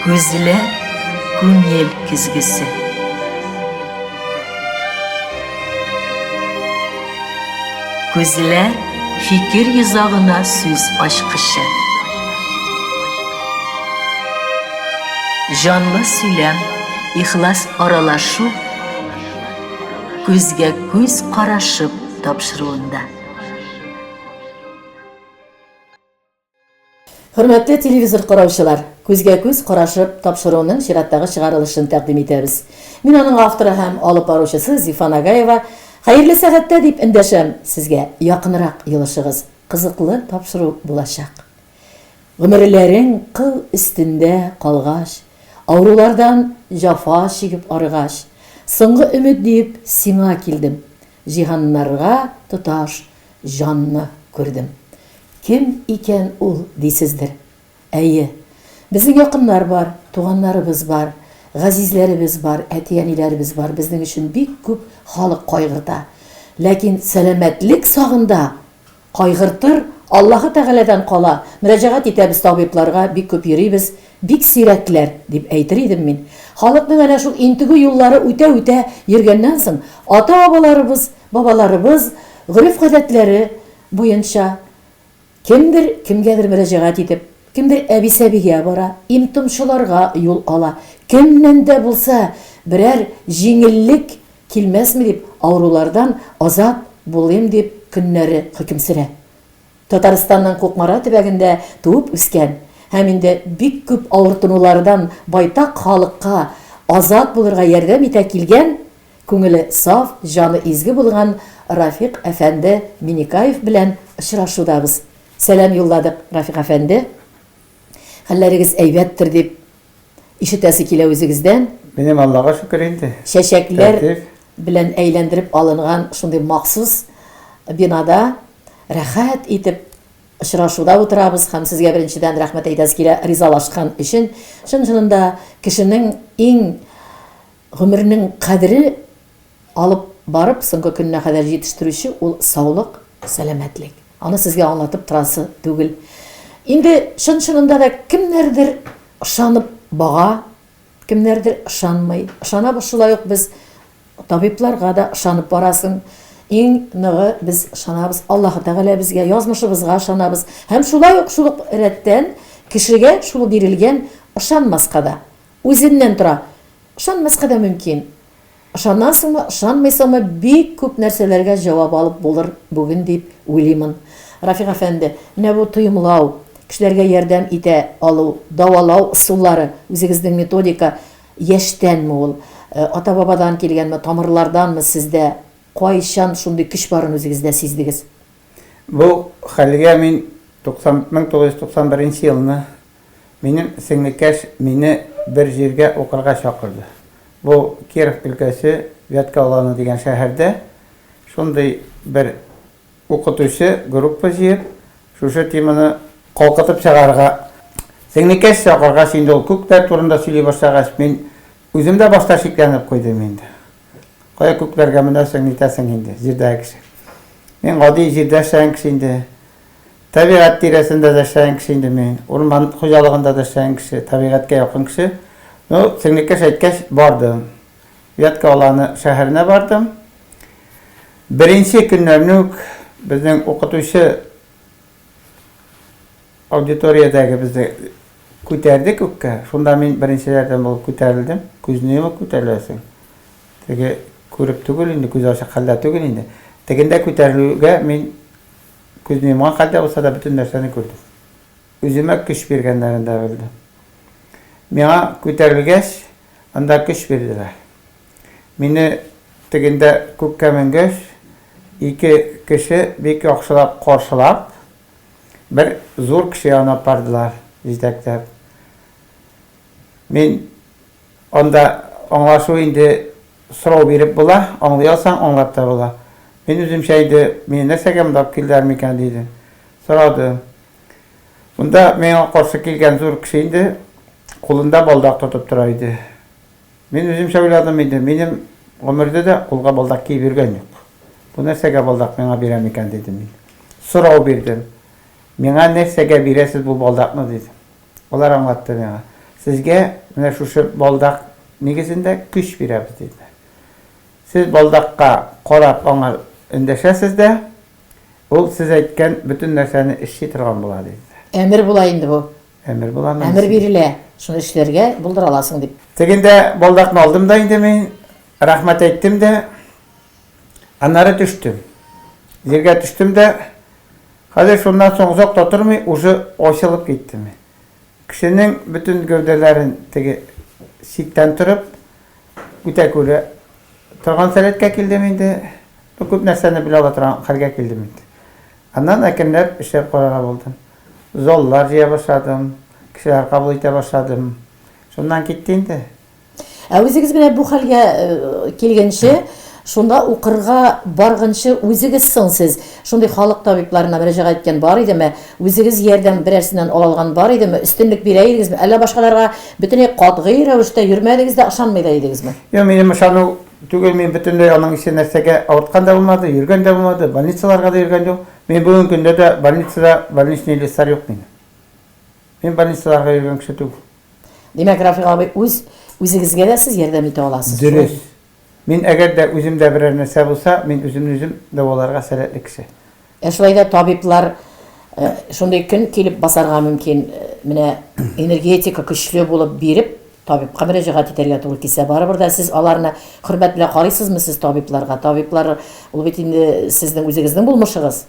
Күзләр, күңел көзгесе. Күзләр, фикер йозагына сүз ачкычы. Җанлы сөйләм, ихлас аралашу, күзгә күз карашып тапшыруында. Хөрмәтле телевизор караучылар, күзгә-күз карашып тапшыруның чираттагы чыгарылышын тәкъдим итәбез. Мин аның авторы һәм алып баручысы Зифа Нагаева. Хәерле сәгатьтә дип эндәшәм сезгә, якынрак елышыгыз, кызыклы тапшыру булачак. Гомерләрең кыл өстендә калгач, авырулардан җафа чигеп арыгач, соңгы өмет диеп сиңа килдем. Җиһаннарга тоташ җанны күрдем. Кем икән ул, дисездер. Әйе, безнең якыннар бар, туганнарыбыз бар, газизләребез бар, әти-әниләребез бар, безнең өчен бик күп халык кайгырта. Ләкин сәламәтлек сагында Кайгыртыр, Аллаһы Тәгаләдән кала, мөрәҗәгать итәбез табибларга, бик күп йөрибез, бик сирәкләр, дип әйтер идем мин. Халыкның әнә шул интегү юллары үтә-үтә йөргәннән соң, ата-бабаларыбыз, бабаларыбыз гореф-гадәтләре буенча, кемдер кемгәдер мөрәҗәгать итеп, кемдер әби-сәбигә бара, им-томчыларга юл ала, кемнән дә булса берәр җиңеллек Килмәсме дип, авырулардан азат булыйм дип көннәре хөкем сөрә. Татарстанның Кукмара төбәгендә туып үскән һәм инде бик күп авыртынулардан байтак халыкка азат булырга ярдәм итә килгән, күңеле саф, җаны изге булган Рафик әфәнде Минекаев белән очрашудабыз. Сәлам юлладык, Рафик әфәнде. Хәлләрегез әйбәттер дип Ишетәсе килә үзегездән. Минем Аллага шөкер инде. Чәчәкләр белән әйләндереп алынган шундый махсус бинада рәхәт итеп очрашуда утырабыз һәм сезгә беренчедән рәхмәт әйтәсе килә ризалашкан өчен. Чын-чынында кешенең иң гомернең кадере Алып барып, соңгы көненә кадәр җитештерүче ул саулык, сәламәтлек. Аны сезгә аңлатып торасы түгел. Инде чын-чынында да кемнәрдер ышанып бага, кемнәрдер ышанмый. Ышанабыз шулай ук без табибларга да ышанып барасың. Иң ныгы без ышанабыз Аллаһы Тәгаләбезгә, язмышыбызга ышанабыз. Һәм шулай ук шул ук рәттән кешегә шул бирелгән ышанмаска да. Үзеннән тора. Ышанмаска да мөмкин. Ышанасыңмы, ышанмыйсыңмы, бик күп нәрсәләргә җавап алып булыр бүген дип уйлыймын. Рафик әфәнде, менә бу тоемлау, кешеләргә ярдәм итә алу, дәвалау ысуллары, үзегезнең методика яшьтәнме ул, ата-бабадан килгәнме, тамырларданмы сездә, кайчан шундый көч барын үзегездә сиздегез? Бу хәлгә мин 90, 1991 нче елны Минем сеңлекәш мине бер җиргә укырга чакырды. Бу Киров өлкәсе Вятка Аланы дигән шәһәрдә. Шундый бер укытучы группа җыеп, шушы теманы калкытып чыгарырга. Сеңлекәш чакыргач, инде ул күкләр турында сөйли башлагач, мин үзем дә башта шикләнеп куйдым инде. Кая күкләргә менәсең, нитәсең инде, җирдәге кеше. Мин гади җирдә яшәгән кеше инде. Табигать тирәсендә дә эшләгән кеше инде мин. Урман хуҗалыгында да эшләгән кеше, табигатькә якын кеше. Ну, сеңлекәш әйткәч, бардым. Вятка Аланы шәһәренә бардым. Беренче көннәрне үк безнең укытучы аудиториядәге безне күтәрде күккә. Шунда мин беренчеләрдән булып күтәрелдем. Күзне йомып күтәреләсең. Теге күреп түгел инде, күзе ачык хәлдә түгел инде. Тегендә күтәрелүгә мин Күзне йомган хәлдә булса да бөтен нәрсәне күрдем. Үземә көч биргәннәрен дә белдем. Миңа күтәрелгәч, анда көч бирделәр. Мине тегендә күккә менгәч, ике кеше бик яхшылап каршылап, бер зур кеше янына апардылар, җитәкләп. Мин. Анда аңлашу инде сорау биреп була, аңлый алсаң, аңлап та була. Мин үземчә инде, мине нәрсәгә монда алып килделәр микән, диде. Сорады. Монда миңа каршы килгән зур кеше инде кулында балдак тотып тора иде. Мин үземчә уйладым инде, минем гомердә дә кулга балдак киеп йөргән юк. Бу нәрсәгә балдак миңа бирә микән, дидем мин. Сорау бирдем. Миңа нәрсәгә бирәсез бу балдакны, дидем. Алар аңлатты миңа. Сезгә менә шушы балдак нигезендә көч бирәбез, диделәр. Сез балдакка карап аңа эндәшәсез дә, ул сез әйткән бөтен нәрсәне эшли торган була, диделәр. Әмер була инде бу. Әмер буламы? Әмер бирелә, шуны эшләргә, булдыра аласың дип. Тегендә балдакны алдым да инде мин, рәхмәт әйттем дә, аннары төштем. Җиргә төштем дә. Хәзер шуннан соң озак та тормый, уже ачылып киттеме. Кешенең бөтен гәүдәләрен теге читтән торып үтә күрә торган сәләткә килдем инде. Ну, күп нәрсәне белә ала торган хәлгә килдем инде. Аннан әкренләп эшләп карарга булдым. Заллар җыя башладым, кешеләр кабул итә башладым. Шуннан китте инде. Ә үзегез менә бу хәлгә килгәнче, шунда укырга баргынчы үзегез соң сез шундый халык табибларына мөрәҗәгать иткән бар идеме? Үзегез ярдәм берәрсеннән ала алган бар идеме? Өстенлек бирә идегезме? Әллә башкаларга бөтенләй катгый рәвештә йөрмәдегез дә, ышанмый да идегезме? Юк, минем ышану түгел, мин бөтенләй аның ише нәрсәгә авырткан да булмады, йөргән дә булмады, больницаларга да йөргән юк. Мин бүгенге көндә дә больницада больничный листлар юк минем. Мин больницаларга йөргән кеше түгел. Димәк, Рафик абый, үз үзегезгә дә сез ярдәм итә аласыз. Дөрес. Мин әгәр дә үземдә берәр нәрсә булса, мин үземне үзем дәваларга сәләтле кеше. Ә шулай да табиблар э, шундый көн килеп басарга мөмкин, э, менә энергетика көчле булып биреп, табибка мөрәҗәгать итәргә туры килсә, барыбер дә сез аларны хөрмәт белән карыйсызмы сез табибларга? Табиблар ул бит инде сезнең үзегезнең булмышыгыз.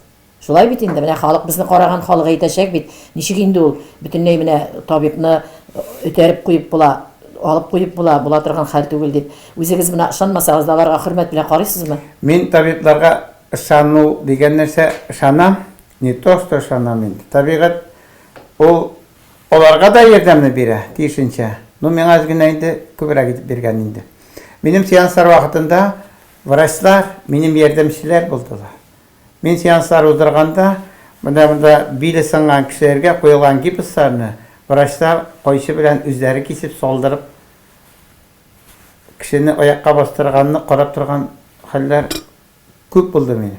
Шулай бит инде, менә халык безне караган халык әйтәчәк бит, ничек инде ул, бөтенләй менә табибны өтәреп куеп була, алып куеп була, була торган хәл түгел дип. Үзегез менә ышанмасагыз да, аларга хөрмәт белән карыйсызмы? Мин табибларга ышану дигән нәрсә, ышанам, не то что ышанам инде, табигать ул аларга да ярдәмне бирә, тиешенчә, ну миңа әз генә инде күбрәк итеп биргән инде. Минем сеанслар вакытында врачлар минем ярдәмчеләр булдылар. Мин сеанслар уздырганда, менә монда биле сынган кешеләргә куелган гипсларны врачлар кайчы белән үзләре кисеп салдырып, кешене аякка бастырганны карап торган хәлләр күп булды минем.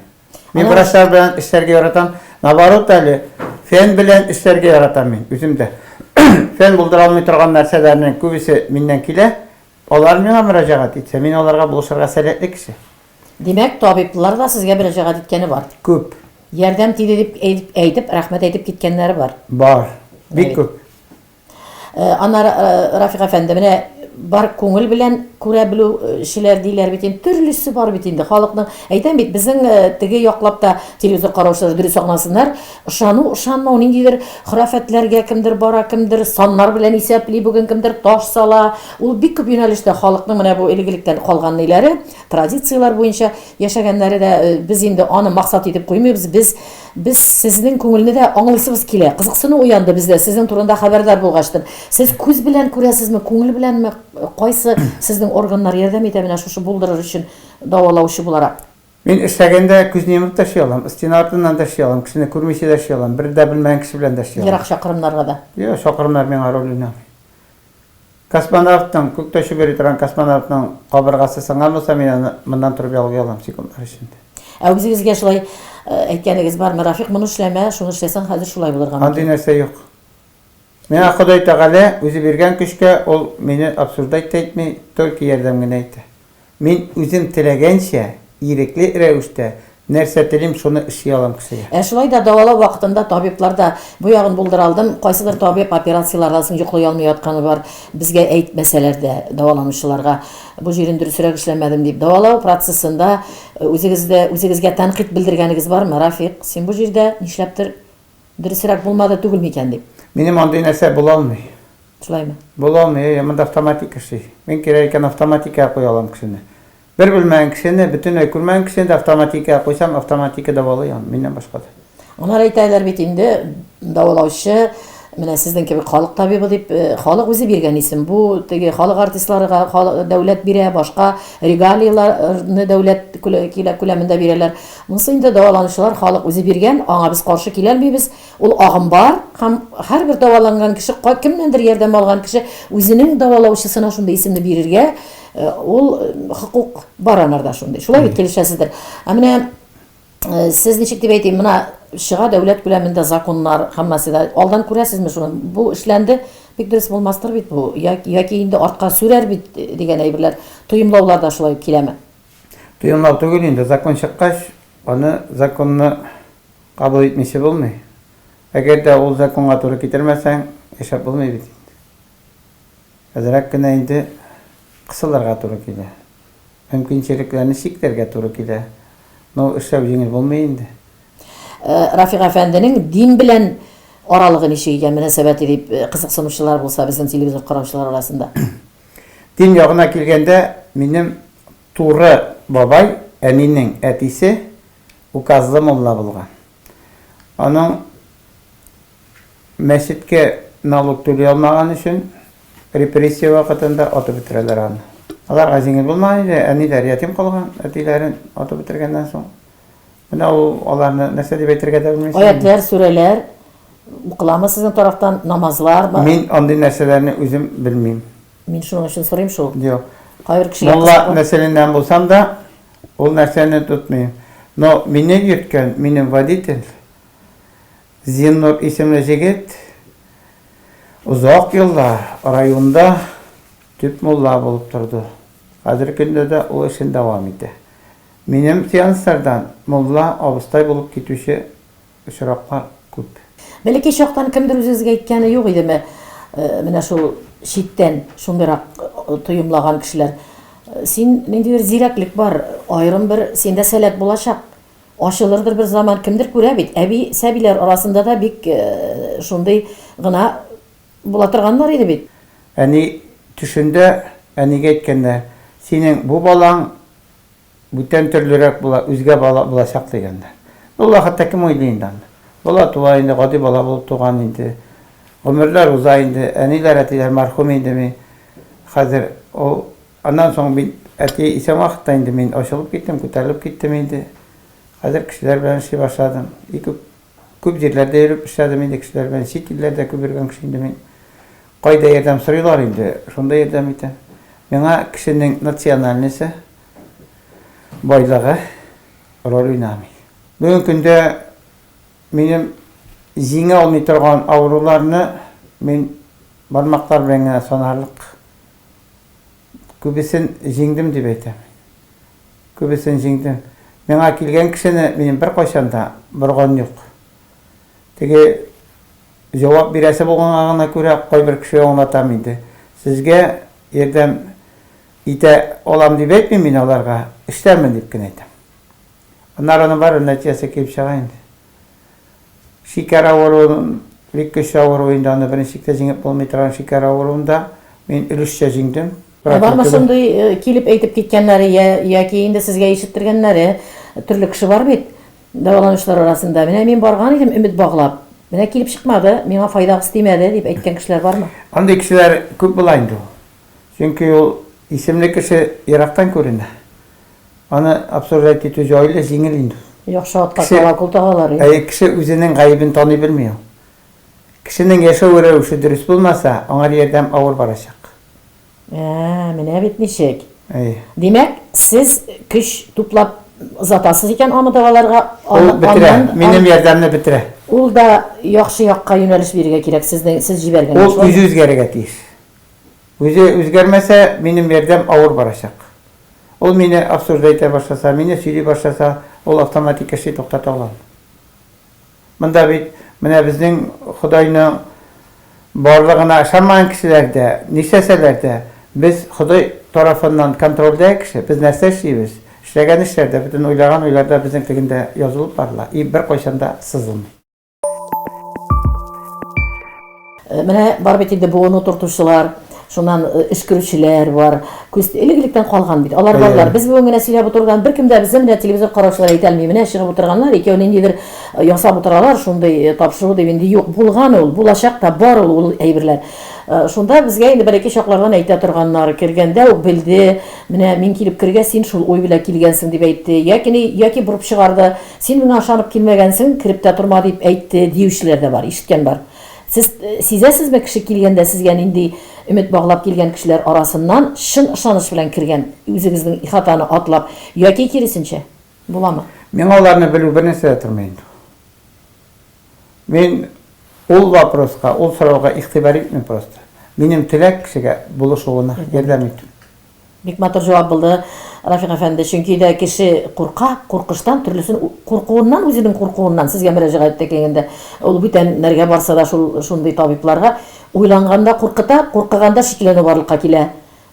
Мин врачлар белән эшләргә яратам. Наоборот әле, фән белән эшләргә яратам мин үзем дә. Фән булдыра алмый торган нәрсәләрнең күбесе миннән килә. Алар миңа мөрәҗәгать итсә, мин аларга булышырга сәләтле кеше. Димәк, табиблар да сезгә мөрәҗәгать иткәне бар? Күп. Ярдәм тиде дип әйтеп, рәхмәт әйтеп киткәннәре бар? Бар. Бик күп. Э, Ана э, Рафик әфәнде, менә бар күңел белән күрә белүчеләр диләр бит инде төрлесе бар бит инде халыкның әйтәм бит безнең э, теге яклап та телевизор караучылар дөрес аңласыннар ышану ышанмау ниндидер хөрәфәтләргә кемдер бара кемдер саннар белән исәпли бүген кемдер таш сала ул бик күп юнәлештә халыкның менә бу элек-электән калган ниләре Традицияләр буенча яшәгәннәре дә, э, без инде аны максат итеп куймыйбыз. Без без сезнең күңелне дә аңлыйсыбыз килә. Кызыксыну уянды бездә сезнең турында хәбәрдар булгачтын. Сез күз белән күрәсезме, күңел беләнме, кайсы сезнең органнар ярдәм итә менә шушы булдырыр өчен дәвалаучы буларак? Мин эшләгәндә күзне йомып та эшли алам, стена артыннан да эшли алам, кешене күрмичә дә эшли алам, бер дә белмәгән кеше белән дә эшли алам. Ерак чакрымнарга да? Юк, чакрымнар миңа роль уйнамый. Космонавтның, күк тәшеп йөри торган космонавтның кабыргасы сынган булса, мин аны моннан торып ялгый алам секундлар эчендә. Ә үзегезгә шулай әйткәнегез бармы, Рафик, моны эшләмә, шуны эшләсәң, хәзер шулай булырга мөмкин? Андый нәрсә юк. Миңа Ходай Тәгалә үзе биргән көчкә, ул мине обсуждать та итми, только ярдәм генә итә. Мин үзем теләгәнчә, ирекле рәвештә, нәрсә телим, шуны эшли алам, кесая. Ә шулай да дәвалау вакытында табиблар да бу ягын булдыра алдым. Кайсыдыр табиб операцияләрдән соң йоклый алмый ятканы бар, безгә әйтмәсәләр дә, дәваланучыларга. Бу җирен дөресрәк эшләмәдем дип. Дәвалау процессында үзегездә үзегезгә тәнкыйть белдергәнегез бармы, Рафик? Син бу җирдә, нишләптер, Дөресрәк булмады түгел микән дип. Минем андый нәрсә була алмый. Шулаймы? Була алмый, әйе, монда автоматик эшли. Мин кирәк икән автоматикага куя алам кешене. Бер белмәгән кешене, бөтенләй күрмәгән кешене дә автоматикага куйсам, автоматика дәвалый аны, миннән башка да. Алар әйтәләр бит инде, дәвалаучы, менә сезнең кебек халык табибы дип, э, халык үзе биргән исем. Бу теге халык артистлары халык, дәүләт бирә, башка регалияләрне дәүләт күләмендә бирәләр. Монысы инде дәваланучылар халык үзе биргән, аңа без каршы киләлмибез. Ул агым бар һәм һәрбер дәваланган кеше, ка кемнәндер ярдәм алган кеше үзенең дәвалаучысына шундый исемне бирергә, ул хокук бар анарда шундый. Шулай бит, килешәсездер. Ә менә сез ничек дип әйтим, менә чыга дәүләт күләмендә законнар һәммәсе дә. Алдан күрәсезме шуны? Бу эшләнде, бик дөрес булмастыр бит бу, я яки инде артка сүрәр бит дигән әйберләр, тоемлаулар да шулай ук киләме? Тыюнлау түгел инде, закон чыккач, аны законны кабул итмичә булмый. Әгәр дә ул законга туры китермәсәң, яшәп булмый бит инде. Әзрәк кенә инде кысылырга туры килә. Мөмкинчелекләрне чикләргә туры килә. Но эшләү җиңел булмый инде. Рафик әфәнденең дин белән аралыгы ничек икән, мөнәсәбәте, дип кызыксынучылар булса, безнең телевизор караучылар арасында. Дин ягына килгәндә, минем туры бабай, әнинең әтисе, указлы мулла булган. Аның мәчеткә налог түли алмаган өчен репрессия вакытында атып бетерәләр аны. Аларга җиңел булмаган иде, әниләр ятим калган, әтиләрен атып бетергәннән соң. Менә ул аларны нәрсә дип әйтергә дә белмисең. Аятьләр, сүрәләр укыламы сезнең тарафтан намазлар? Мин андый нәрсәләрне үзем белмим. Мин шуның өчен сорыйм шул. Юк. Кайбер кешегә Мулла нәселеннән булсам да, ул нәрсәне тотмыйм. Но мине йөрткән, минем водитель Зиннур исемле җегет озак еллар районда төп мулла булып торды. Хәзерге көндә дә ул эшен дәвам итә. Минем сеанслардан мулла абыстай булып китүче очраклар күп. Бәләкәй чактан кемдер үзегезгә әйткәне юк идеме, менә шул читтән шундыйрак тоемлаган кешеләр, Син, ниндидер зирәклек бар, аерым бер синдә сәләт булачак, ачылырдыр бер заман, кемдер күрә бит. Әби сәбиләр арасында да бик шундый гына була торганнар иде бит. Әни төшендә әнигә әйткәндә, Синең бу балаң Бүтән төрлерәк була, үзгә бала булачак дигәндә. Ну, ла хәтта кем уйлый инде аны. Бала туа инде, гади бала булып туган инде. Гомерләр уза инде, әниләр, әтиләр мәрхүм инде ми хәзер. Ул, аннан соң бит әти исән вакытта инде мин ачылып киттем, күтәрелеп киттем инде. Хәзер кешеләр белән эшли башладым. И күп. Күп җирләрдә йөреп эшләдем инде кешеләр белән, чит илләрдә күп йөргән кеше инде мин. Кайда ярдәм сорыйлар инде, шунда ярдәм итәм. Миңа кешенең национальносе, байлыгы роль уйнамый. Бүгенге көндә минем җиңә алмый торган авыруларны мин бармаклар белән генә санарлык күбесен җиңдем дип әйтәм. Күбесен җиңдем. Миңа килгән кешене минем беркайчан да борган юк. Теге җавап бирәсе булганга гына күрә кайбер кешегә аңлатам инде. Сезгә ярдәм итә алам дип әйтмим мин аларга, эшләрмен дип кенә әйтәм. Аннары аның барыбер нәтиҗәсе килеп чыга инде. Шикәр авыруын, бик көчле авыру инде, аны беренчелектә җиңеп булмый торган шикәр авыруын да мин өлешчә җиңдем. Ә бармы шундый килеп әйтеп киткәннәре я, яки инде сезгә ишеттергәннәре, төрле кеше бар бит дәваланучылар арасында, менә мин барган идем өмет баглап, менә килеп чыкмады, миңа файдагыз тимәде, дип әйткән кешеләр бармы? Андый кешеләр күп була инде ул. Чөнки ул исемле кеше ерактан күренә. Аны обсуждать итү җайлы, җиңел инде ул. Яхшы атка кала кул тагалар инде. Әйе, кеше үзенең гаебен таный белми ул. Кешенең яшәү рәвеше дөрес булмаса, аңар ярдәм авыр барачак. Ә, менә бит ничек. Әйе. Димәк, сез көч туплап озатасыз икән аны даваларга, аны, Ул бетерә, аннан, минем ярдәмне бетерә. Ул да яхшы якка юнәлеш бирергә кирәк, сезнең, сез җибәргән Ул эш. үзе үзгәрергә тиеш. Үзе үзгәрмәсә, минем ярдәм авыр барачак. Ул мине обсуждать итә башласа, мине сөйли башласа, ул автоматик эшли туктата алам. Монда бит менә безнең Ходайның барлыгына ышанмаган кешеләр дә, нишләсәләр дә, без Ходай тарафыннан контрольдә кеше, без нәрсә эшлибез, эшләгән эшләр дә, бөтен уйлаган уйлар да безнең тегендә язылып барыла и беркайчан да сызылмый. Э, менә бар бит инде буыну тортучылар шуннан э, өскерүчеләр бар күз элек электән калган бит алар балалар без бүген генә сөйләп утырган беркем дә безне менә телевизор караучылар әйтә алмый менә чыгып утырганнар икәү ниндидер э, ясап утыралар шундый тапшыру дип инде юк булган ул булачак та бар ул ул әйберләр шунда безгә инде бер ике чаклардан әйтә торганнар кергәндә үк белде менә мин килеп кергә син шул уй белән килгәнсең дип әйтте яки яки борып чыгарды Син миңа ышанып килмәгәнсең, кереп тә торма, дип әйтте, диючеләр дә бар, ишеткән бар. Сез сизәсезме, кеше килгәндә сезгә нинди өмет баглап килгән кешеләр арасыннан чын ышаныч белән кергән, үзегезнең ихатаны атлап, яки киресенчә? Буламы? Миңа аларны белү бернәрсә дә тормый инде ул. Мин ул вопроска, ул сорауга игътибар итмим просто. Минем теләк, кешегә булышуына ярдәм итү. Бик матур җавап булды, Рафик әфәнде, чөнки дә кеше курка, куркыштан, төрлесен куркуыннан, үзенең куркуыннан, сезгә мөрәҗәгать итә килгәндә, ул бүтән нәргә барса да шул шундый табибларга, уйланганда куркыта, куркыганда шикләнү барлыкка килә,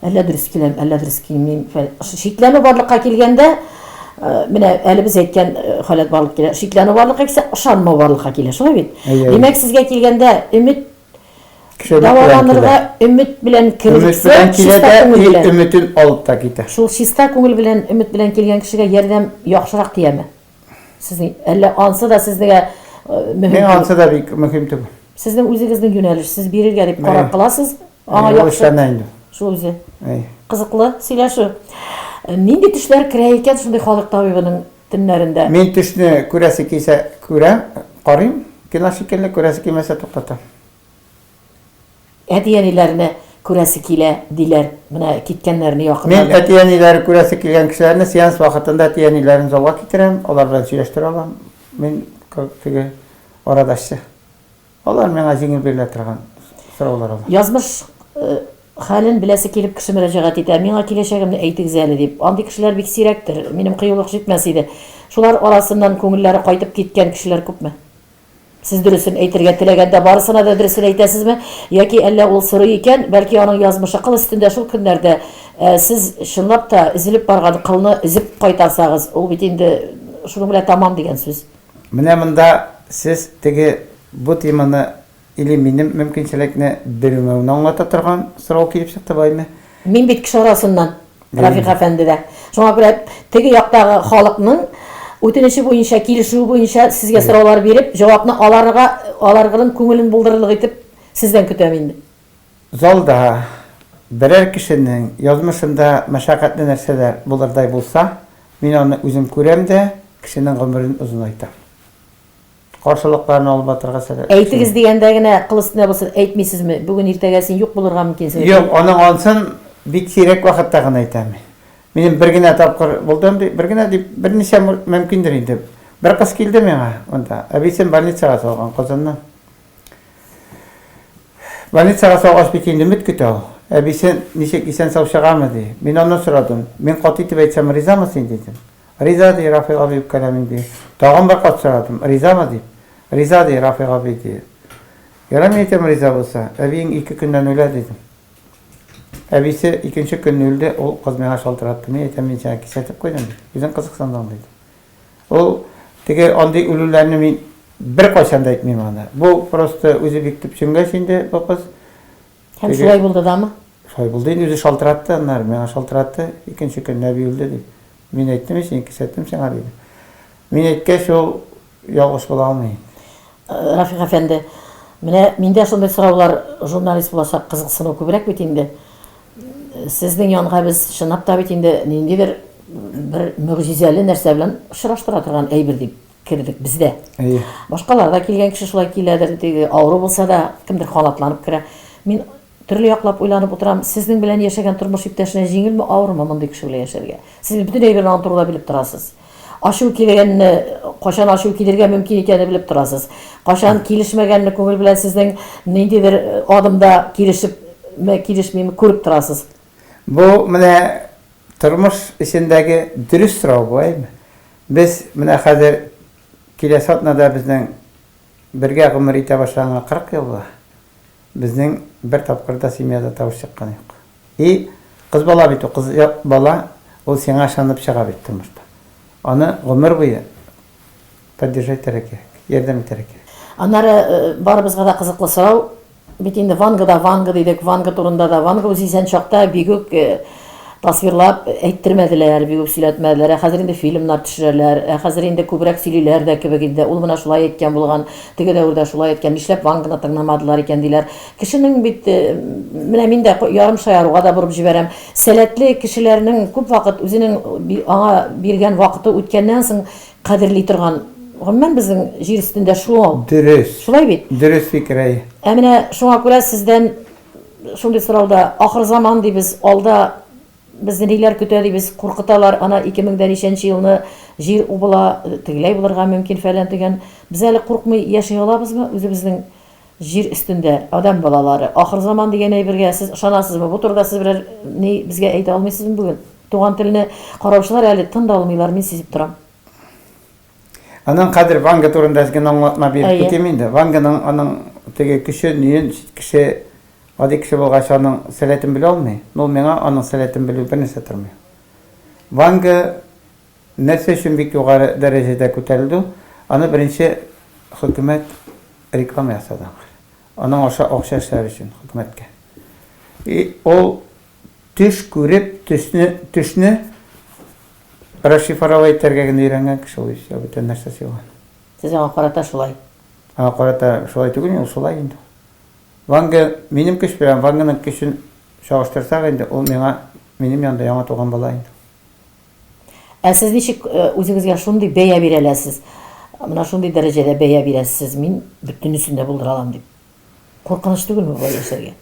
әллә дөрес киләм, әллә дөрес килмим, фәл шикләнү барлыкка килгәндә, менә әле без әйткән халәт барлыкка килә, шикләнү барлыкка килсә, ышанмау барлыкка килә, шулай бит? Әйе, әйе. Димәк, сезгә килгәндә, өмет Чыбык белән килә. Дәваланырга өмет белән кергезсә, чиста күңел белән. Өмет белән килә дә, өметен алып та китә. Шул чиста күңел белән, өмет белән килгән кешегә ярдәм яхшырак тияме? Сезнең, әллә ансы да сезнегә мөһим түгел? Миңа ансы да бик мөһим түгел. Сезнең үзегезнең юнәлеш, сез бирергә дип карар кыласыз, аңа яхшы. Ул эшләнә инде. Шул үзе. Кызыклы сөйләшү. Нинди төшләр керә икән шундый халык табибының төннәрендә. Мин төшне күрәсе килсә күрәм, карыйм, кино шикелле, күрәсе килмәсә туктатам. Әти-әниләрне күрәсе килә, диләр, менә киткәннәрне якыннан. Мин әти-әниләре күрәсе килгән кешеләрне сеанс вакытында әти-әниләрен залга китерәм, алар белән сөйләштерә алам, мин теге арадашчы. Алар миңа җиңел бирелә торган сораулар ул. Язмыш хәлен беләсе килеп кеше мөрәҗәгать итә, миңа киләчәгемне әйтегез әле дип. Андый кешеләр бик сирәктер, минем кыюлык җитмәс иде. Шулар арасыннан күңелләре кайтып киткән кешеләр күпме? Сез дөресен әйтергә теләгәндә барысына да дөресен әйтәсезме? Яки әллә ул сорый икән, бәлки аның язмышы кыл өстендә шул көннәрдә сез чынлап та өзелеп барган кылны өзеп кайтарсагыз, ул бит инде шуның белән тәмам дигән сүз. Менә монда сез теге бу теманы или минем мөмкинчелекне белмәүне аңлата торган сорау килеп чыкты байме? Мин бит кеше арасыннан, Рафик әфәнде дә. Шуңа күрә теге яктагы халыкның үтенече буенча, килешүе буенча сезгә сораулар биреп, җавапны аларга аларгырын күңелен булдырырлык итеп сездән көтәм инде. Залда берәр кешенең язмышында мәшәкатьле нәрсәләр булырдай булса, мин аны үзем күрәм дә, кешенең гомерен озынайтам. Каршылыкларын алып атырга сәләтле кеше. Әйтегез дигәндә генә, кыл өстенә басып әйтмисезме? Бүген-иртәгә син юк булырга мөмкинсең. Юк, аның ансын бик сирәк вакытта гына әйтәм. Минем бер генә тапкыр булды андый, бер генә дип, берничә мөмкиндер инде. Бер кыз килде миңа монда, әбисен больницага салган, Казаннан. Больницага салгач бит инде өмет көтә ул. Әбисе, ничек, исән-сау чыгамы, ди. Мин аннан сорадым. Мин каты итеп әйтсәм, ризамы син, дидем. Риза, ди, Рафил абый үпкәләмим, ди. Тагын бер кат сорадым, ризамы, дип. Риза, ди, Рафил абый, ди. Ярар, мин әйтәм, риза булса, әбиең ике көннән үлә, дидем. Әбисе икенче көнне үлде, ул кыз миңа шалтыратты. Мин әйтәм, мин сиңа кисәтеп куйдым, үзең кызыксындың, диде. Ул теге андый үлүләрне мин беркайчан да әйтмим аны. Бу просто үзе бик төп чөнгәч инде бу кыз. Һәм шулай булды дамы? Шулай булды инде, үзе шалтыратты аннары, миңа шалтыратты, икенче көн Нәби үлде дип. Мин әйттем ич, мин кисәттем сиңа диде. Мин әйткәч ул ялгыш була алмый. Э, Рафик әфәнде, менә миндә шундый сораулар журналист булачак кызыксыну күбрәк бит инде. Сезнең янга без чынлап та бит инде ниндидер бер мөгъҗизәле нәрсә белән очраштыра торган әйбер дип кердек без дә. Әйе. Башкалар да килгән кеше шулай киләдер, теге авыру булса да кемдер канатланып керә. Мин төрле яклап уйланып утырам, сезнең белән яшәгән тормыш иптәшенә җиңелме, авырмы мондый кеше белән яшәргә? Сез бит бөтен әйберне аның турында белеп торасыз. Ачу килгәнне, качан ачу килергә мөмкин икәнне белеп торасыз. Качан килешмәгәнне күңел белән сезнең ниндидер адымда килешепме, килешмиме, күреп торасыз. Бу менә тормыш эчендәге дөрес сорау буламы? Без менә хәзер киләсе атнада безнең бергә гомер итә башлаганга 40 ел була. Безнең бер тапкыр да семьяда тавыш чыккан юк. И кыз бала бит ул, кыз бала ул сиңа ышанып чыга бит тормышта. Аны гомер буе поддержательрә кирәк, ярдәм итәргә кирәк. Аннары барыбызга да кызыклы сорау, бит инде Вангада Ванга дидек, Ванга турында да, Ванга үзе исән чакта бигүк, Тасвирлап әйттермәделәр, бик үк сөйләтмәделәр. Ә хәзер инде фильмнар төшерәләр. Ә хәзер инде күбрәк сөйлиләр дә кебек инде. Ул менә шулай әйткән булган, теге дәвердә шулай әйткән, нишләп Ванганы тыңламадылар икән, диләр. Кешенең бит, менә мин дә ярым шаяруга да борып җибәрәм, сәләтле кешеләрнең күп вакыт үзенең аңа биргән вакыты үткәннән соң кадерли торган, гомумән безнең җир өстендә шул. Дөрес. Шулай бит? Дөрес фикер, әйе. Ә менә шуңа күрә сездән Шундый сорауда ахырзаман дибез, алда безне ниләр көтә дибез, куркыталар, ана 2000 дә ничәнче елны җир убыла, тегеләй булырга мөмкин, фәлән, төгән. Без әле куркмый яши алабызмы үзебезнең җир өстендә, адәм балалары? Ахырзаман дигән әйбергә сез ышанасызмы? Бу турыда сез берәр ни безгә әйтә алмыйсызмы бүген? Туган телне караучылар әле тын да алмыйлар, мин сизеп торам. Аның хәзер Ванга турында генә аңлатма биреп Әйе. китим инде. Ванганың аның теге көче, ниен кеше гади кеше булгач аның сәләтен белә алмый. Ну, миңа аның сәләтен белү бернәрсә тормый. Ванга нәрсә өчен бик югары дәрәҗәдә күтәрелде? Аны беренче хөкүмәт реклама ясады аңа. Аның аша акча эшләр өчен хөкүмәткә. И ул төш күреп, төсне, төшне Расшифровать итәргә генә өйрәнгән кеше ул исә бүтән нәрсә сыйлган. Сез аңа карата шулай. Аңа карата шулай түгел мин, ул шулай инде ул. Ванга минем көч белән Ванганың көчен чагыштырсак инде, ул миңа минем янында яңа туган бала инде ул. Ә сез ничек үзегезгә шундый бәя бирә аләсез, менә шундый дәрәҗәдә бәя бирәсез, мин бөтенесен дә булдыра алам дип? Куркыныч түгелме болай яшәргә?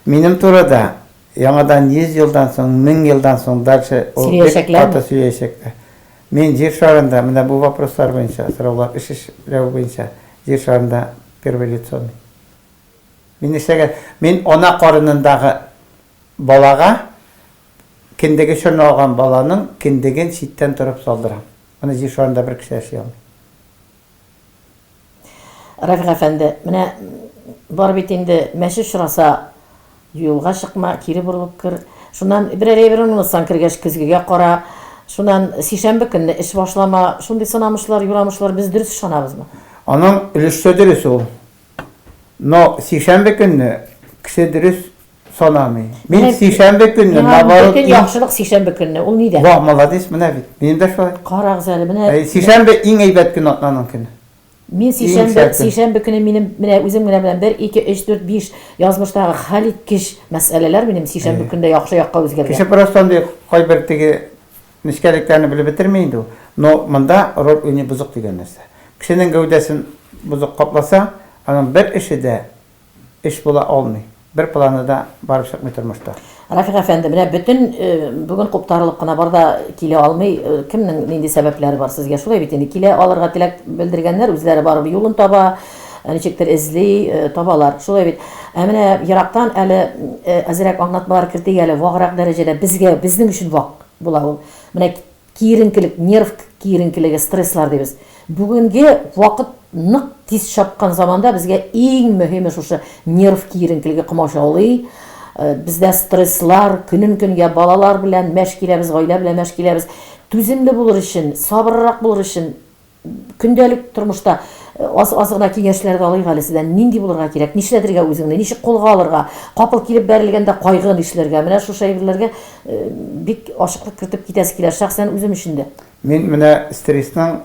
Минем турыда яңадан 100 елдан соң, 1000 елдан соң дальше ул бик Сөйләячәкләрме? каты сөйләячәкләр. Мин Җир шарында менә бу вопрослар буенча, сораулар эш эшләү буенча Җир шарында первое лицо мин. Мин нишләгә, мин ана карынындагы балага кендеге чорналган баланың кендеген читтән торып салдырам. Аны Җир шарында бер кеше яши алмый. Рәфик әфәнде, менә бар бит инде, мәче очраса, юлга чыкма, кире борылып кер. Шуннан берәр әйбер онлытсаң, кергәч көзгегә кара. Шуннан сишәмбе көнне эш башлама. Шундый сынамышлар, юрамышлар, без дөрес ышанабызмы? Аның өлешчә дөрес ул. Но сишәмбе көнне кеше дөрес Санамый. Мин Менә- сишәмбе көнне Миңа наоборот. бөтен иң- яхшылык сишәмбе көнне. Ул нидә? Вау, молодец, менә бит. Минем дә шулай. Карагыз әле, менә Ә, Сишәмбе иң әйбәт көн атнаның көне. мин сишәмбе, сәке. сишәмбе көне минем менә үзем генә белән 1 2 3 4 5 язмыштагы хәлиткеч мәсьәләләр минем сишәмбе Әйе. көндә яхшы якка Кеше үзгәргән. просто андый кайбер теге нечкәлекләрне белеп бетерми инде ул. Но монда роль уйный бозык дигән нәрсә. Кешенең гәүдәсен бозык капласа, аның бер эше дә эш була алмый. Бер планы да барып чыкмый тормышта. Рафик әфәнде, менә бөтен бүген куптарылып кына бар да килә алмый. Кемнең нинди сәбәпләре бар сезгә? Шулай бит инде, килә алырга теләк белдергәннәр, үзләре барып юлын таба, ничектер эзли, табалар. Шулай бит. Ә менә ерактан әле әзрәк аңлатмалар кертик әле, ваграк дәрәҗәдә, безгә, безнең өчен вак була ул. Менә Киеренкелек, нерв киеренкелеге, стресслар дибез. Бүгенге вакыт нык тиз чапкан заманда безгә иң мөһиме шушы нерв киеренкелеге комачаулый. Бездә стресслар, көнен-көнгә балалар белән мәш киләбез, гаилә белән мәш киләбез. Түземле булыр өчен, сабыррак булыр өчен Көндәлек тормышта аз-аз гына киңәшләр дә алыйк әле сездән. Нинди булырга кирәк? Нишләтергә үзеңне? Ничек кулга алырга? Капыл килеп бәрелгәндә кайгы нишләргә? Менә шушы әйберләргә бик ачыклык кертеп китәсе килә, шәхсән үзем өчен дә. Мин менә стрессның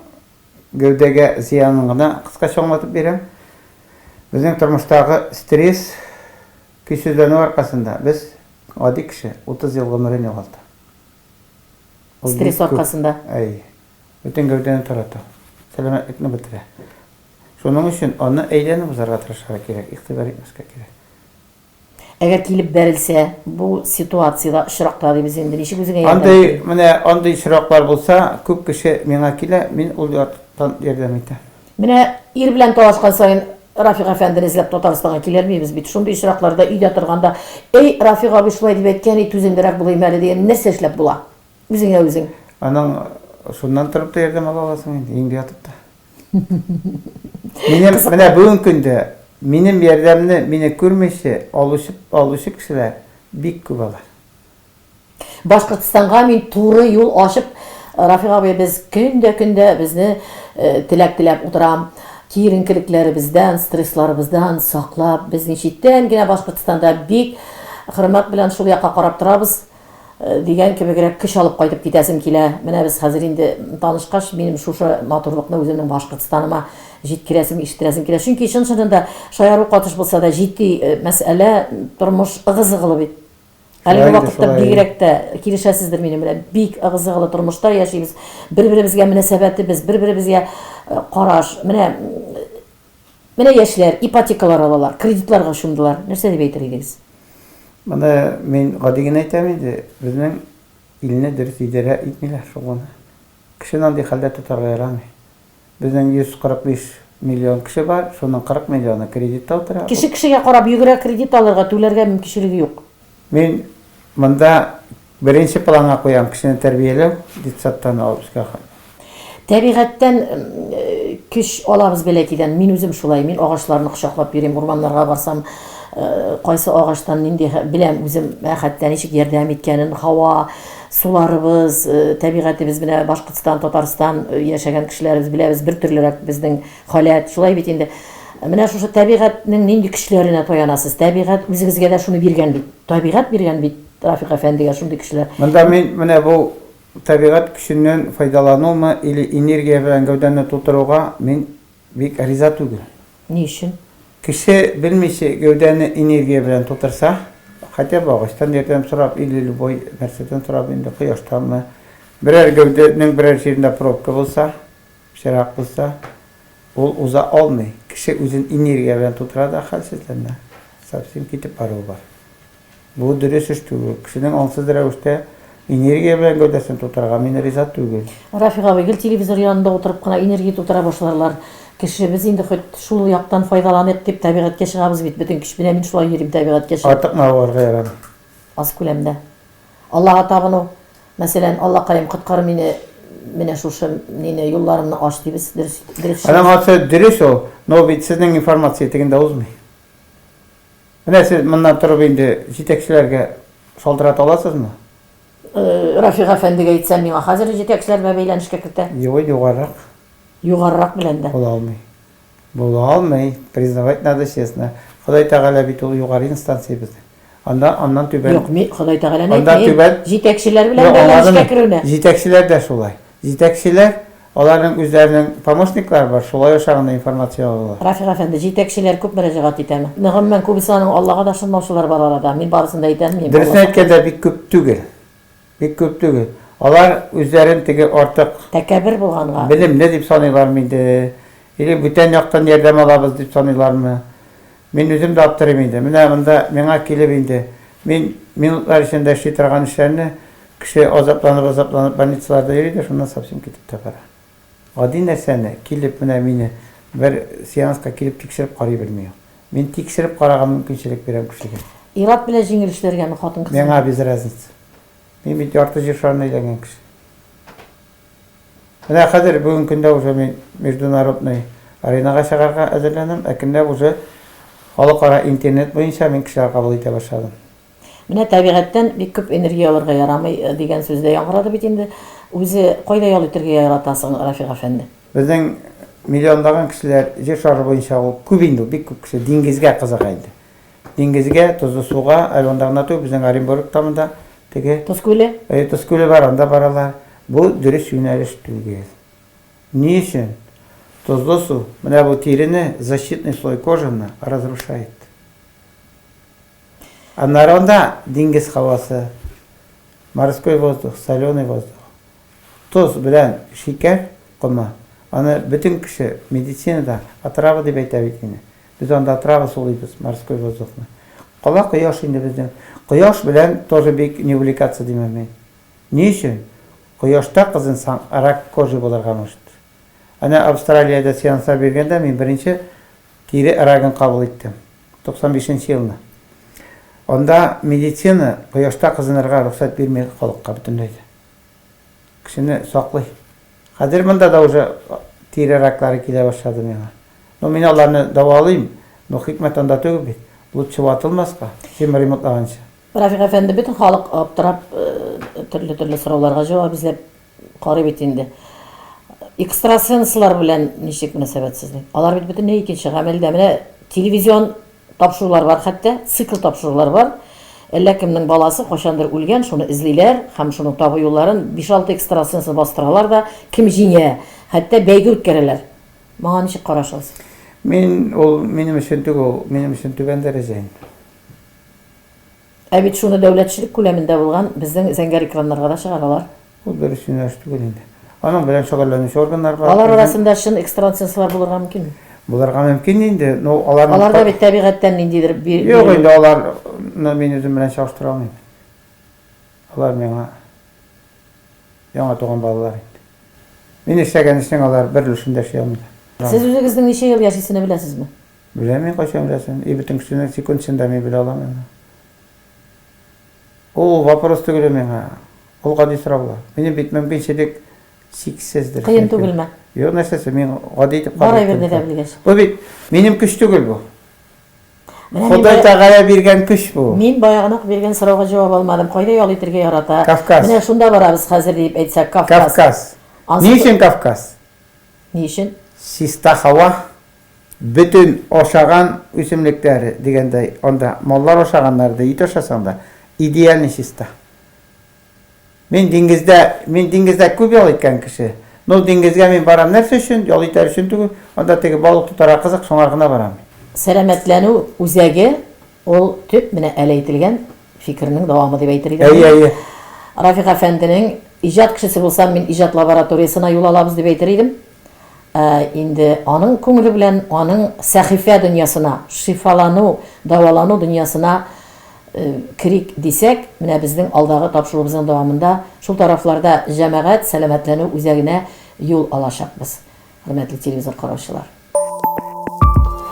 гәүдәгә зыянын гына кыскача аңлатып бирәм. Безнең тормыштагы стресс, көйсезләнү аркасында без, гади кеше, 30 ел гомерен югалта. Стресс аркасында? Әйе. Бөтен гәүдәне тарата, сәламәтлекне бетерә. Шуның өчен аны әйләнеп узарга тырышырга кирәк, игътибар итмәскә кирәк. Әгәр килеп бәрелсә, бу ситуациядә очракта дибез инде, ничек үзеңә ярдәм итәр? Андый, менә андый очраклар булса, күп кеше миңа килә, мин ул яктан ярдәм итәм. Менә ир белән талашкан саен Рафик әфәндене эзләп Татарстанга килермибез бит. Шундый очракларда өйдә торганда, Әй, Рафик абый шулай дип әйткән ид, түземлерәк булыйм әле, дигән нәрсә эшләп була? Үзеңә үзең. Аның шуннан торып та ярдәм ала аласың инде, өеңдә ятып та. Минем менә бүгенге көндә минем ярдәмне мине күрмичә алучы алучы кешеләр бик күп алар. Башкортстанга мин туры юл ачып, Рафик абый, без көндә-көндә безне теләк теләп утырам, киеренкелекләребездән, стрессларыбыздан саклап, безнең читтән генә Башкортстанда бик хөрмәт белән шул якка карап торабыз. дигән кебегрәк көч алып кайтып китәсем килә. Менә без хәзер инде танышкач, минем шушы матурлыкны үземнең Башкортстаныма җиткерәсем, ишеттерәсем килә. Чөнки чын-чынында шаяру катыш булса да, җитди мәсьәлә, тормыш ыгы-зыгылы бит. Әлеге вакытта бигрәк тә, килешәсездер минем белән, бик ыгы-зыгылы тормышта яшибез. Бер-беребезгә мөнәсәбәтебез, бер-беребезгә караш, менә Менә яшьләр ипотекалар алалар, кредитларга чумдылар. Нәрсә дип әйтер идегез? Моны мин гади генә әйтәм инде, безнең илне дөрес идарә итмиләр шул гына. Кешене андый хәлдә тотарга ярамый. Безнең 145 миллион кеше бар, шуның 40 миллионы кредитта утыра. Кеше кешегә карап йөгерә, кредит алырга, түләргә мөмкинчелеге юк. Мин монда беренче планга куям, кешене тәрбияләү, детсадтан алып өскә кадәр. Тәбигатьтән көч алабыз бәләкидән. Мин үзем шулай, мин агачларны кочаклап йөрим, урманнарга барсам, кайсы агачтан нинди, беләм үзем хәтта ничек ярдәм иткәнен, һава, суларыбыз, тәбигатебез, менә Башкортстан, Татарстан яшәгән кешеләр, без беләбез, бертөрлерәк безнең. Халәт, шулай бит инде. Менә шушы табигатьнең нинди көчләренә таянасыз. Табигать үзегезгә дә шуны биргән бит. Табигать биргән бит Рафик әфәндегә шундый көчләр. Монда мин менә бу табигать көченнән файдаланумы или энергия белән гәүдәмне тутыруга мин бик риза түгел. Ни өчен? Кеше белмичә гәүдәне энергия белән тутырса, хотя бы агачтан ярдәм сорап или любой нәрсәдән сорап инде, кояштанмы, берәр гәүдәнең берәр җирендә пробка булса, Пычрак булса, ул уза алмый. Кеше үзен энергия белән тутыра да хәлсездән дә совсем китеп баруы бар. Бу дөрес эш түгел. Кешенең аңсыз рәвештә энергия белән гәүдәсен тутырырга мин риза түгел. Рафик абый, гел телевизор янында утырып кына энергия тутыра башларлар кеше. Без инде хоть шул яктан файдаланыйк дип табигатькә чыгабыз бит бөтен көч. Менә мин шулай йөрим табигатькә чыгып. Артык мавыгарга ярамый. Аз күләмдә Аллага табыну, мәсәлән, Аллакаем, коткар мине, менә шушы мине, юлларымны ач, дибез, дөрес, дөрес сүз. Аның аты дөрес ул, но бит сезнең информация тегендә узмый. Менә сез моннан торып инде җитәкчеләргә шалтырата аласызмы? Рафик әфәндегә әйтсәм, миңа хәзер үк җитәкчеләр белән бәйләнешкә кертә. Юк, югарырак. Югарырак белән дә. Була алмый. Була алмый, признавать надо честно, Ходай Тәгалә бит ул югары инстанциябез. Анда аннан түбән. Юк, мин Ходай Тәгаләне әйтмим. Анда түбән. Җитәкчеләр белән бәйләнешкә керүне. Җитәкчеләр дә шулай. Җитәкчеләр Аларның үзләренең помощниклар бар, шулай аша гына информация алалар. Рафик әфәнде, җитәкчеләр күп мөрәҗәгать итәме? Гомумән, күбесе аның Аллага да ышанмаучылар бар арада. Мин барысын да әйтә алмыйм. Дөресен әйткәндә, бик күп түгел. Бик күп түгел. Алар үзләрен теге артык. Тәкәбер булганга. Белемле дип саныйлармы инде, или бүтән яктан ярдәм алабыз дип саныйлармы? Мин үзем дә аптырыйм инде. Менә монда миңа килеп инде, мин минутлар эчендә эшли торган эшләрне, кеше азапланып-азапланып больницаларда йөри дә шуннан совсем китеп тә бара. Гади нәрсәне, килеп, менә мине бер сеанска килеп тикшереп карый белми ул. Мин тикшереп карарга мөмкинчелек бирәм кешегә. Ир-ат белән җиңел эшләргәме, хатын-кызга? Миңа без разница. Мин бит ярты Җир шарына әйләнгән кеше. Менә хәзер, бүген көндә уже мин международный аренага чыгарга әзерләнәм, әкренләп уже халыкара интернет буенча мин кешеләр кабул итә башладым. Менә табигатьтән бик күп энергия алырга ярамый, дигән сүз дә яңгырады бит инде. Үзе кайда ял итергә ярата соң Рафик әфәнде? Безнең миллионлаган кешеләр Җир шары буенча ул күп инде, бик күп кеше диңгезгә кызыга инде. Диңгезгә, тозлы суга, әле монда гына түгел, безнең Оренбургта монда теге Тоз күле? Әйе, Тоз күле бар, анда баралар. Бу дөрес юнәлеш түгел. Ни өчен? Тозлы су, менә бу тирене, защитный слой кожаны разрушает. Аннары анда диңгез һавасы, морской воздух, соленый воздух, тоз белән шикәр комы. Аны бөтен кеше медицинада отрава дип әйтә бит инде. Без анда отрава сулыйбыз, морской воздухны. Кала кояш инде безнең. Кояш белән тоже бик не увлекаться димәм мин. Ни өчен? Кояшта кызынсаң, рак кожи булырга может. Әнә Австралиядә сеанслар биргәндә мин беренче Кире Эрагын кабул иттем. 95 нче елны. Анда медицина кояшта кызынырга рөхсәт бирми халыкка бөтенләй дә. Кешене саклый. Хәзер монда да уже тире раклары килә башлады миңа. Ну, мин аларны дәвалыйм, но хикмәт анда түгел бит. Лучше ватылмаска, чем ремонтлаганчы. Рафик әфәнде, бөтен халык аптырап, төрле-төрле сорауларга җавап эзләп Карый бит инде. Экстрасенслар белән ничек мөнәсәбәт сезнең? Алар бит бөтенләй икенче гамәлдә. Менә телевизион тапшырулар бар хәтта, цикл тапшырулар бар. Әллә кемнең баласы кайчандыр үлгән, шуны эзлиләр һәм шуның табу юлларын биш-алты экстрасенсны бастыралар да, кем җиңә, хәтта бәйге үткәрәләр. Моңа ничек карашыгыз? Мин, ул минем өчен түгел, ул минем өчен түбән дәрәҗә инде. Ә бит шуны дәүләтчелек күләмендә булган безнең зәңгәр экраннарга да чыгаралар. Ул дөрес юнәлеш түгел инде. Аның белән шөгыльләнүче органнарга. Алар арасында чын экстрансенслар булырга мөмкинме? Булырга мөмкин инде, но аларның. Аларда бит тәбигатьтән ниндидер бир. Юк инде, аларны мин үзем белән чагыштыра алмыйм. Алар миңа яңа туган балалар инде. Мин эшләгән эшнең алар бер өлешен дә эшли алмыйлар. Сез үзегезнең ничә ел яшисене беләсезме? Беләм мин кайчан рәсем, и бөтен кешенең секундсын да мин белә алам аны. Ул вопрос түгел миңа, ул гади сораулар. Минем бит мөмкинчелек чиксездер. Кыен түгелме? Юк, нәрсәсе, мин гади итеп карыйм. Бар әйберне дә белгәч. Бу бит минем көч түгел бу. Ходай Тәгалә биргән көч бу. Мин баягына ук биргән сорауга җавап алмадым. Кайда ял итергә ярата? Кавказ. Менә шунда барабыз хәзер диеп әйтсәк, Кавказ. Кавказ. Ни өчен Кавказ? Ни өчен? Чиста һава, Бөтен ашаган үсемлекләр дигәндәй, анда маллар ашаганнар да, ит ашасаң да, идеальный чиста. Мин диңгездә, мин диңгездә күп ял иткән кеше. Ну, диңгезгә мин барам нәрсә өчен? Ял итәр өчен түгел, анда теге балык тотарга кызык, шуңар гына барам мин. Сәламәтләнү үзәге, ул төп менә әле әйтелгән фикернең дәвамы дип әйтер идем мин. Әйе, әйе. Рафик әфәнденең, Иҗат кешесе булсам, мин иҗат лабораториясенә юл алабыз, дип әйтер идем. Ә инде аның күңеле белән аның сәхифә дөньясына, шифалану, дәвалану дөньясына керик дисәк, менә безнең алдагы тапшыруыбызның дәвамында шул тарафларда җәмәгать сәламәтләнү үзәгенә юл алачакбыз, хөрмәтле телевизор караучылар.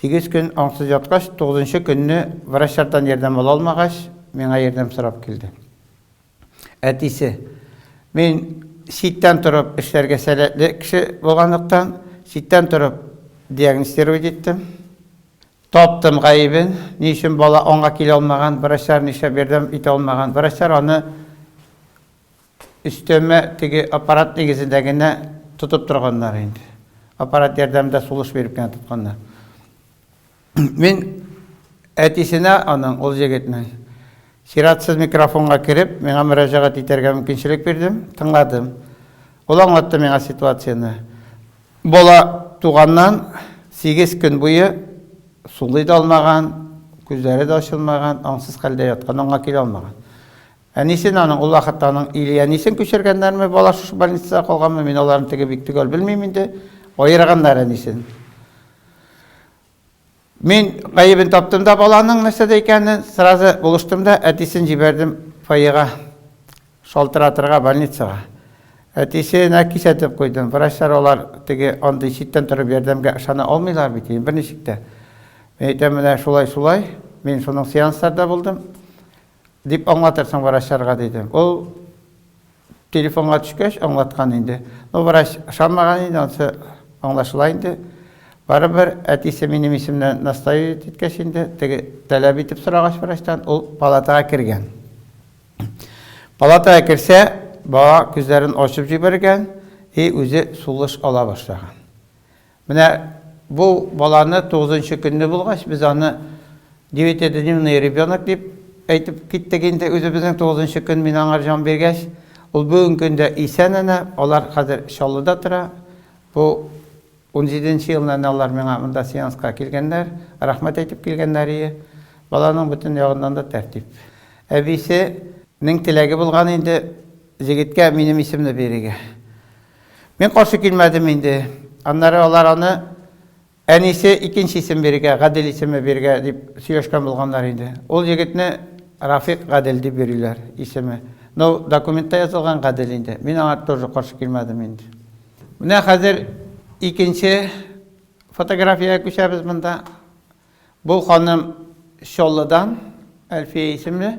Сигез көн аңсыз яткач, тугызынчы көнне врачлардан ярдәм ала алмагач, миңа ярдәм сорап килде. Әтисе. Мин читтән торып эшләргә сәләтле кеше булганлыктан, читтән торып диагностировать иттем. Таптым гаебен, ни өчен бала аңга килә алмаган, врачлар нишләп ярдәм итә алмаган. Врачлар аны Өстәмә теге аппарат нигезендә генә тотып торганнар инде. Аппарат ярдәмендә сулыш биреп кенә тотканнар. Мин әтисенә аның, ул егетнең, чиратсыз микрофонга кереп, миңа мөрәҗәгать итәргә мөмкинчелек бирдем, тыңладым. Ул аңлатты миңа ситуацияне. Бала туганнан сигез көн буе сулый да алмаган, күзләре дә ачылмаган, аңсыз хәлдә яткан, аңга килә алмаган. Әнисен, аның ул вакытта аның или әнисен күчергәннәрме, бала шушы больницада калганмы, мин аларны теге бик төгәл белмим инде, аерганнар әнисен. Мин гаебен таптым да баланың нәрсәдә икәнен, сразу булыштым да әтисен җибәрдем фойега, шалтыратырга больницага. Әтисенә кисәтеп куйдым. Врачлар алар теге андый читтән торып ярдәмгә ышана алмыйлар бит, берничек тә. Мин әйтәм, менә шулай-шулай, мин шуның сеансларда булдым. Дип аңлатырсың врачларга, диде. Ул телефонга төшкәч аңлаткан инде. Ну, врач ышанмаган инде, анысы аңлашыла инде. Барыбер әтисе минем исемне наставить иткәч инде, теге таләп итеп сорагач врачтан, ул палатага кергән. Палатага керсә, бала күзләрен ачып җибәргән и үзе сулыш ала башлаган. Менә бу баланы тугызынчы көнне булгач, без аны девятидневный ребенок дип әйтеп киттек инде үзебезнең тугызынчы көн мин аңар җан биргәч. Ул бүгенге көндә исән әнә, алар хәзер Чаллыда тора. Бу унҗиде нче елны әнә алар миңа монда сеанска килгәннәр, рәхмәт әйтеп килгәннәрие. Баланың бөтен ягыннан да тәртип. Әбисе нең теләге булган инде җегеткә минем исемне бирергә. Мин каршы килмәдем инде. Аннары алар аны әнисе икенче исем бирергә, Гадел исеме бирергә дип сөйләшкән булганнар инде. Ул егетне Рафик Гадел дип йөриләр, исеме. Ну, документта язылган Гадел инде. Мин аңа тоже каршы килмәдем инде. Менә хәзер икенче фотографиягә күчәбез монда. Бу ханым Чоллыдан, Әлфия исемле.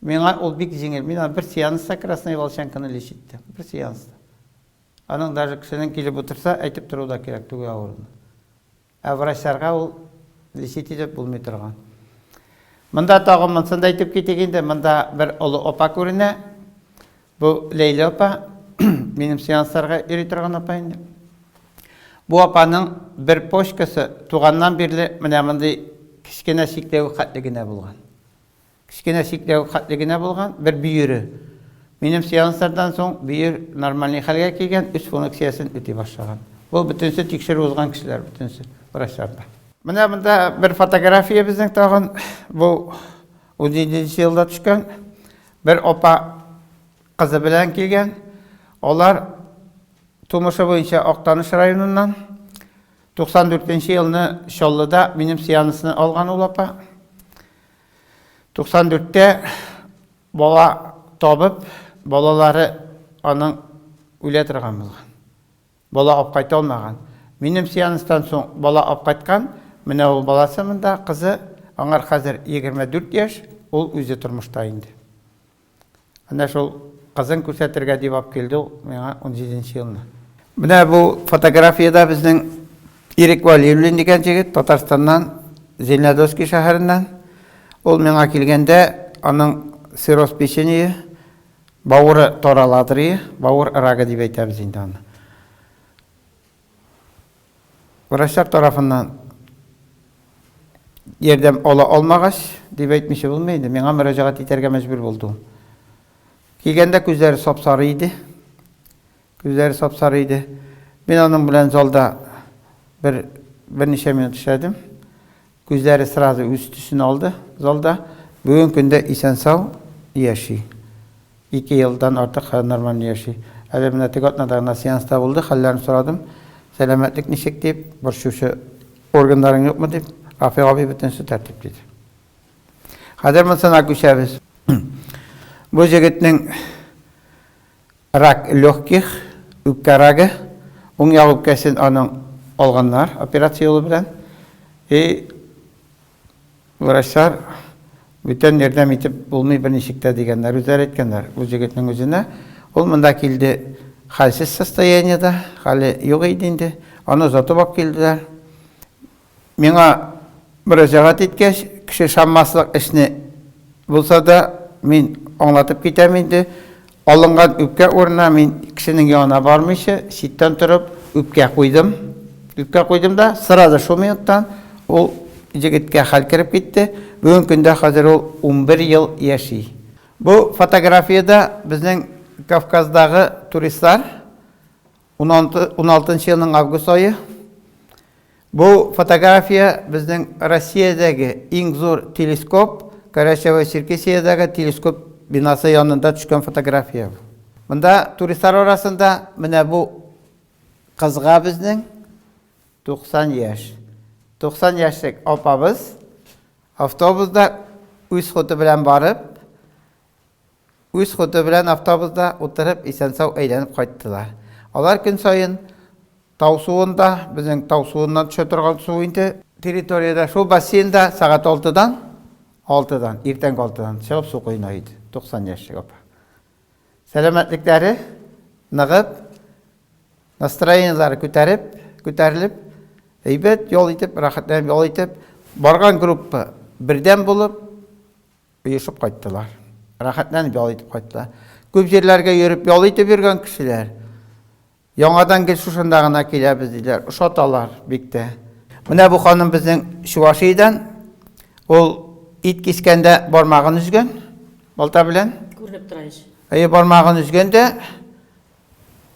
Миңа ул бик җиңел. Мин аны бер сеанста Красная Волчанканы лечь иттем. Бер сеанста. Аның даже кешенең килеп утырса, әйтеп тору да кирәк түге авыруны. Ә врачларга ул лечить итеп булмый торган. Монда тагы монсын да әйтеп китик инде. Монда бер олы опа күренә. Бу Ләйлә опа. Минем сеансларга йөри торган опа инде. Бу апаның бер почкасы туганнан бирле менә мондый кечкенә чикләвек хәтле генә булган. Кечкенә чикләвек хәтле генә булган, бер бөере. Минем сеанслардан соң бөер нормальный хәлгә килгән, үз фуныкциясен үти башлаган. Бу бөтенесе тикшерү узган кешеләр бөтенесе, врачлар да. Менә монда бер фотография безнең тагын, бу унҗиденче елда төшкән. Бер апа кызы белән килгән. Алар тумышы буенча Актаныш районыннан. 94 нче елны Чаллыда минем сеансны алган ул апа. 94-тә бала табып, балалары аның үлә торган булган. Бала алып кайта алмаган. Минем сеанстан соң бала алып кайткан, менә ул баласы монда, кызы, аңар хәзер 24 яшь, ул үзе тормышта инде. Менә шул кызын күрсәтергә дип алып килде ул миңа 17 нче елны. Менә бу фотографиядә безнең Ирек Валиуллин дигән җегет Татарстаннан, Зеленодольский шәһәреннән. Ул миңа килгәндә, аның цирроз печенье, бавыры таралатырые, бавыр рагы дип әйтәбез инде аны. Врачлар тарафыннан ярдәм ала алмагач, дип әйтмичә булмый инде, миңа мөрәҗәгать итәргә мәҗбүр булды. Килгәндә күзләре сап-сары иде. Күзләре сап-сары иде. Мин аның белән залда бер берничә минут эшләдем. Күзләре сразу үз төсен алды залда. Бүген көндә исән-сау яши. Ике елдан артык нормально яши. Әле менә теге атнада гына сеанста булды, хәлләрен сорадым. Сәламәтлек ничек, дип, борчучы органнарың юкмы, дип, Рафыйк абый бөтенесе тәртип, диде. Хәзер монысына күчәбез. Бу җегетнең Рак легких, үпкә рагы, уң як үпкәсен аның алганнар операция юлы белән. И врачлар бүтән ярдәм итеп булмый берничек тә дигәннәр, үзләре әйткәннәр ул җегетнең үзенә. Ул монда килде хәлсез состояниедә, хәле юк иде инде, аны озатып алып килделәр. Миңа мөрәҗәгать иткәч, кеше ышанмаслык эшне булса да, мин аңлатып китәм инде. Алынган үпкә урынына мин кешенең янына бармыйча, читтән торып, үпкә куйдым. Үпкә куйдым да, сразу шул минуттан ул җегеткә хәл кереп китте. Бүген көндә хәзер ул унбер ел яши. Бу фотографиядә безнең Кавказдагы туристлар. 16 нчы елның август ае. Бу фотография безнең Россиядәге иң зур телескоп, Карачаево-Черкесиядәге телескоп бинасы янында төшкән фотография. Монда туристлар арасында менә бу кызга безнең 90 яшь. 90 яшьлек апабыз автобусда үз ходы белән барып, Үз ходы белән автобуста утырып исән-сау әйләнеп кайттылар. Алар көн саен тау суында, безнең тау суыннан төшә торган су инде, территориядә шул бассейнда сәгать алтыдан, алтыдан, иртәнге алтыдан чыгып су коена иде, 90 яшьлек апа. Сәламәтлекләре ныгып, настроениеләре күтәреп, күтәрелеп, әйбәт ял итеп, рәхәтләнеп ял итеп, барган группа бердәм булып, Оешып кайттылар. Рәхәтләнеп ял итеп кайттылар. Күп җирләргә йөреп, ял итеп йөргән кешеләр. Яңадан гел шушында гына киләбез, диләр. Ошаталар бик тә. Менә бу ханым безнең Чувашиядән. Ул ит кискәндә бармагын өзгән, балта белән. Күренеп тора ич. Әйе, бармагын өзгән дә.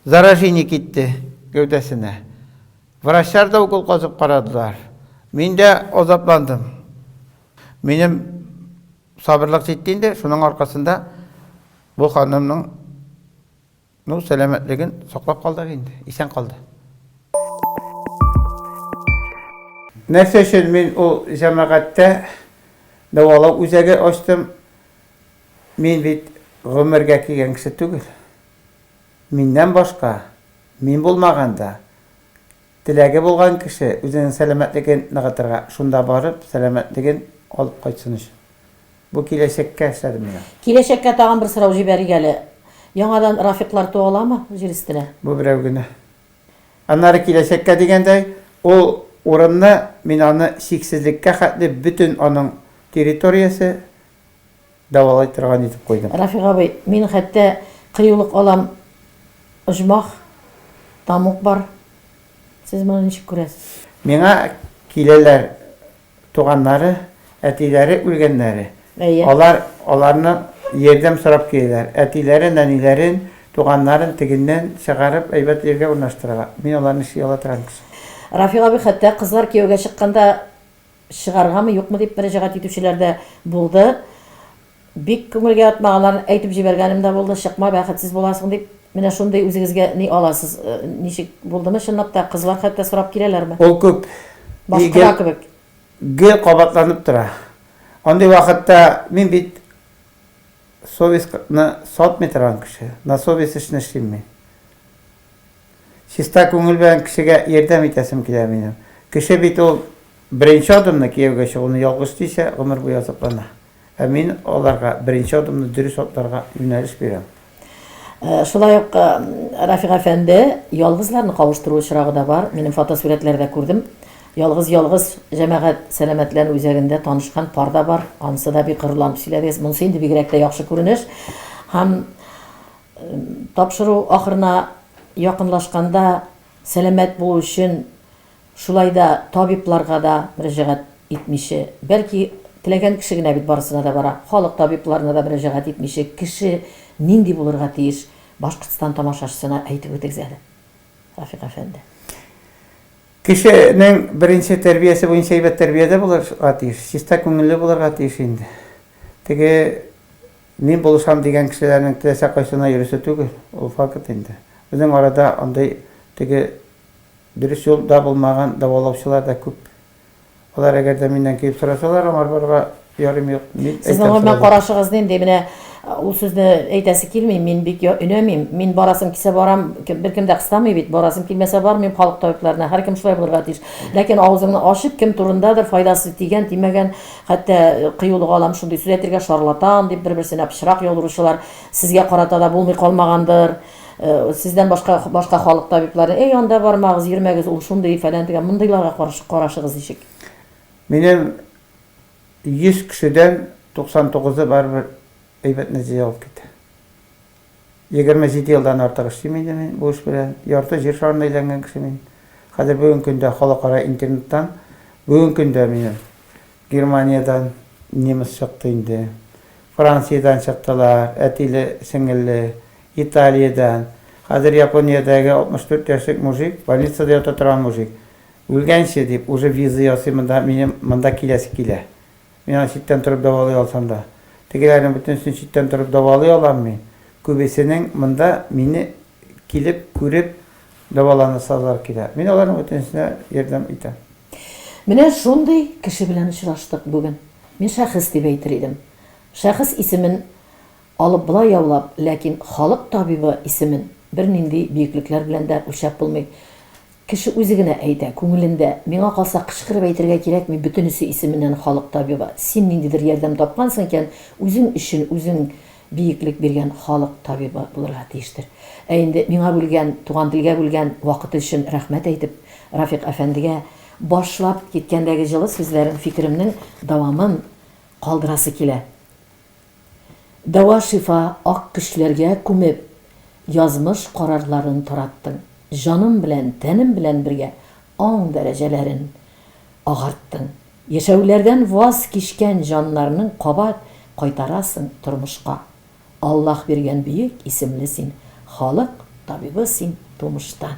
Заражение китте гәүдәсенә. Врачлар да укол казып карадылар. Мин дә азапландым. Минем сабырлык җитте инде, шуның аркасында бу ханымның ну, сәламәтлеген саклап калдык инде, исән калды. Нәрсә өчен мин ул җәмәгатьтә дәвалау үзәге ачтым? Мин бит гомергә кигән кеше түгел. Миннән башка, мин булмаганда, теләге булган кеше үзенең сәламәтлеген ныгытырга, шунда барып сәламәтлеген алып кайтсын өчен. Бу киләчәккә эшләдем мин аны. Киләчәккә тагын бер сорау җибәрик әле. Яңадан Рафиклар туа аламы җир өстенә? Бу берәү генә. Аннары киләчәккә дигәндәй, ул урынны мин аны чиксезлеккә хәтле бөтен аның территориясе, дәвалай торган итеп куйдым. Рафик абый, мин хәтта кыюлык алам, оҗмах, тамук бар. Сез моны ничек күрәсез? Миңа киләләр туганнары, әтиләре үлгәннәре. Әйе. Алар, аларны ярдәм сорап киләләр. Әтиләре, нәниләрен, туганнарын тегеннән чыгарып, әйбәт җиргә урнаштыралар. Мин аларны чөя ала торам кеше. Рафик абый, хәтта кызлар кияүгә чыкканда Чыгаргамы, юкмы дип мөрәҗәгать итүчеләр дә булды. Бик күңелгә ятмаганнарын әйтеп җибәргәнем дә булды, чыкма, бәхетсез буласың дип. Менә шундый үзегезгә ни аласыз? Ничек, булдымы чынлап та? Кызлар хәтта сорап киләләрме? Ул күп. И, гел, гел кабатланып тора. Андый вакытта мин бит совестьны сатмый торган кеше, на совесть эшне эшлим мин. Чиста күңел белән кешегә ярдәм итәсем килә минем. Кеше бит ул беренче адымны кияүгә чыгуны ялгыш дисә, гомер буе азаплана. Ә мин аларга беренче адымны дөрес атларга юнәлеш бирәм. Шулай ук Рафик әфәнде, ялгызларны кавыштыру очрагы да бар. Минем фотосурәтләрдә күрдем. Ялгыз-ялгыз җәмәгать сәламәтләнү үзәгендә танышкан пар да бар. Анысы да бик горурланып сөйләдегез. Монысы инде бигрәк тә яхшы күренеш. Һәм. Тапшыру ахырына якынлашканда сәламәт булу өчен шулай да табибларга да мөрәҗәгать итмиче, бәлки теләгән кеше генә бит барысына да бара, халык табибларына да мөрәҗәгать итмиче кеше нинди булырга тиеш, Башкортстан тамашачысына әйтеп үтегез әле, Рафик әфәнде. Кешенең беренче тәрбиясе буенча әйбәт тәрбиядә булырга тиеш, чиста күңелле булырга тиеш инде. Теге. Мин булышам дигән кешеләрнең теләсә кайсына йөрисе түгел, ул факт инде. Безнең арада андый теге дөрес юл да булмаган дәвалаучылар да күп. Алар әгәр дә миннән килеп сорасалар, аңар барырга ярыйм юк, мин әйтәм Сезнең аңа сразу. карашыгыз нинди? Менә ул сүзне әйтәсе килми, мин бик я өнәмим, мин барасым килсә барам, кем беркем дә кыстамый бит, барасым килмәсә бармыйм халык табибларына, һәркем шулай булырга тиеш. Ләкин авызыңны ачып кем турындадыр файдасы тигән-тимәгән Хәтта кыюлык алам, шундый сүз әйтергә, шарлатан, дип бер-берсенә пычрак яудыручылар сезгә карата да булмый калмагандыр. Сездән башка башка халык табиблары, Әй, анда бармагыз, йөрмәгез, ул шундый, фәлән-төгән, мондыйларга каршы карашыгыз ничек? Минем 100 кешедән 99-ы барыбер әйбәт нәтиҗә алып китә. Егерме җиде елдан артык эшлим инде мин бу эш белән. Ярты җир шарын әйләнгән кеше мин. Хәзер бүгенге көндә халыкара интернеттан, бүгенге көндә минем Германиядән немец чыкты инде, Франциядән чыктылар, әтиле, сеңелле, Италиядән. Хәзер Япониядәге 64 яшьлек мужик, больницада ята торган мужик, үлгәнче дип, уже виза ясый монда, минем монда киләсе килә. Мин аны читтән торып дәвалый алсам да. Тегеләрнең бөтенесен читтән торып дәвалый алам мин. Күбесенең монда мине килеп күреп дәваланасалар килә. Мин аларның бөтенесенә ярдәм итәм. Менә шундый кеше белән очраштык бүген. Мин шәхес дип әйтер идем. Шәхес исемен алып болай яулап, ләкин халык табибы исемен бернинди биеклекләр белән дә үлчәп булмый. Кеше үзе генә әйтә, күңелендә. Миңа калса, кычкырып әйтергә кирәкми, бөтенесе исеменнән халык табибы. Син ниндидер ярдәм тапкансың икән, үзең өчен үзең биеклек биргән халык табибы булырга тиештер. Ә инде миңа бүлгән, туган телгә бүлгән вакыты өчен рәхмәт әйтеп, Рафикъ әфәндегә башлап киткәндәге җылы сүзләрен, фикеремнең дәвамын калдырасы килә. Дәва-шифа ак көчләргә күмеп, язмыш карарларын тараттың. Җаным белән, тәнем белән бергә аң дәрәҗәләрен агарттың. Яшәүләрдән ваз кичкән җаннарның кабат кайтарасың тормышка. Аллаһ биргән бөек исемле син, халык табибы син тумыштан.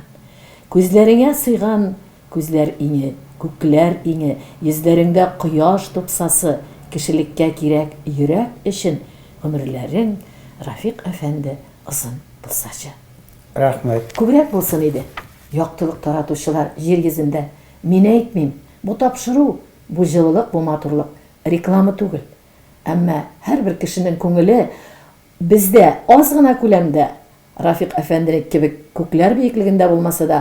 Күзләреңә сыйган Күзләр иңе, күкләр иңе, йөзләреңдә кояш тупсасы, кешелеккә кирәк йөрәк өчен гомерләрең, Рафик әфәнде, озын булсачы. Рәхмәт. Күбрәк булсын иде. Яктылык таратучылар җир йөзендә. Мин әйтмим, бу тапшыру, бу җылылык, бу матурлык, реклама түгел. Әмма һәрбер кешенең күңеле бездә аз гына күләмдә, Рафик әфәнде кебек күкләр биеклегендә булмаса да,